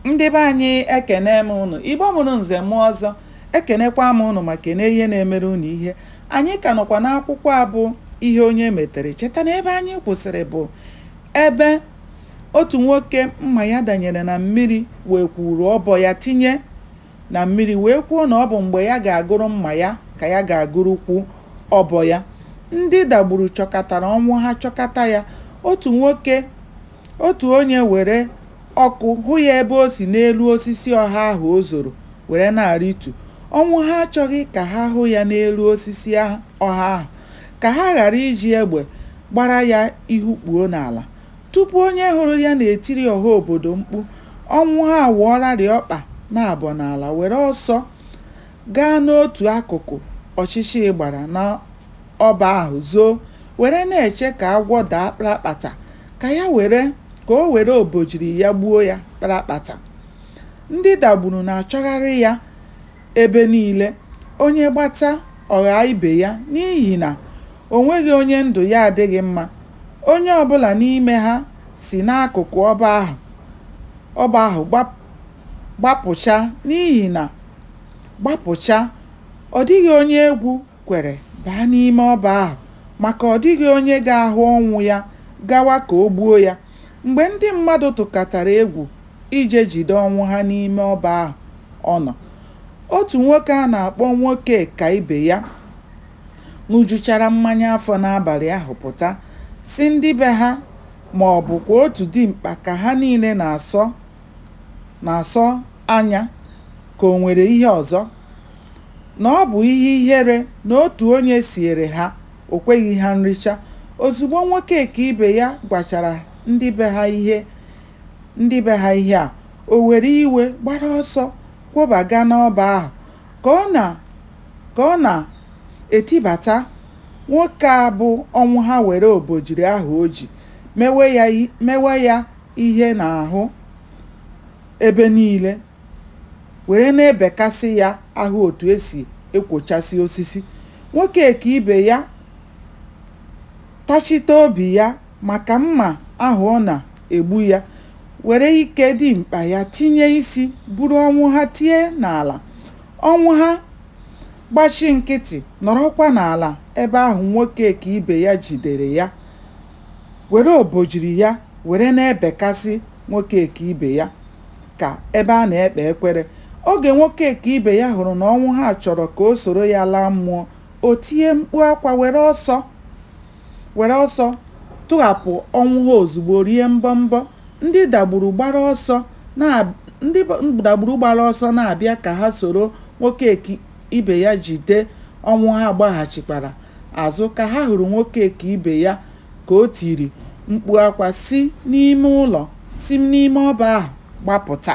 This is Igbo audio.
Ndị be anyị ekene m ụnụ, Igbo mụrụ nze mụ ọzọ, ekenekwa m ụnụ ma kene onye na-emere ụnụ ihe. Anyị ka nọkwa n'akwụkwọ a bụ Ihe Onye Metere. Cheta na ebe anyị kwụsịrị bụ ebe otu nwoke mma ya danyere na mmiri wekwuru ọbọ ya tinye na mmiri wee kwuo na ọ bụ mgbe ya ga-agụrụ mma ya ka ya ga-agụrụkwu ọbọ ya. Ndị Dagburu chọkatara Ọnwụha chọkata ya. Otu nwoke Otu onye were ọkụ hụ ya ebe o si n'elu osisi ọha ahụ o zoro were na-arịtu. Ọnwụha achọghị ka ha hụ ya n'elu osisi ọha ahụ, ka ha ghara iji egbe gbara ya ihu kpuo n'ala. Tupu onye hụrụ ya na-etiri ọha obodo mkpu, Ọnwụha awụọlarị ọkpa naabọ n'ala were ọsọ gaa n'otu akụkụ ọchịchị gbara n'ọba ahụ zoo were na-eche ka agwọ daa kparakpata. ka ya were ka o were obojiri ya gbuo ya kparakpata. Ndị Dagburu na-achọgharị ya ebe niile, onye gbata ọ ghaa ibe ya n'ihi na o nweghị onye ndụ ya adịghị mma. Onye ọbụla n'ime ha si n'akụkụ ọba ahụ gbapụchaa n'ihi na gbapụchaa, ọ dịghị onye egwu kwere baa n'ime ọba ahụ maka ọ dịghị onye ga-ahụ ọnwụ ya gawa ka o gbuo ya. Mgbe ndị mmadụ tụkatara egwu ije jide Ọnwụha n'ime ọba ahụ ọ nọ, otu nwoke a na-akpọ Nwokekaibeya ṅụjuchara mmanya afọ n'abalị ahụ pụta sị ndị be ha ma ọ bụkwa otu dimkpa ka ha niile na-asọ anya ka o nwere ihe ọzọ. na ọ bụ ihe ihere na otu onye siere ha, o kweghị ha nricha. Ozugbo Nwokekaibeya gwachara ndị be ha ihe a, o were iwe gbara ọsọ kwobaga n'ọba ahụ. Ka ọ na-etibata nwoke a bụ Ọnwụha were obojiri ahụ o ji mewe ya ihe n'ahụ ebe niile. were na-ebekasị ya ahụ otu e si ekwochasị osisi. Nwokekaibeya tachite obi ya maka mma ahụ ọ na-egbu ya, were ike dimkpa ya tinye isi buru Ọnwụha tie n'ala. Ọnwụha gbachi nkịtị, nọrọkwa n'ala ebe ahụ Nwokekaibeya jidere ya, were obojiri ya were na-ebekasị Nwokekaibeya. ka ebe a na-ekpe ekwere. Oge nwoke ka ibe ya hụrụ na Ọnwụha chọrọ ka o soro ya laa mmụọ, o tie mkpu akwa were ọsọ were ọsọ tụghapụ Ọnwụha ozugbo rie mbọmbọ. Ndị dagburu gbara ọsọ na-abịa ka ha soro nwoke ka ibe ya jide Ọnwụha gbaghachikwara azụ ka ha hụrụ nwoke ka ibe ya Ka o tiri mkpu akwa si n'ime ụlọ, si n'ime ọba ahụ gbapụta.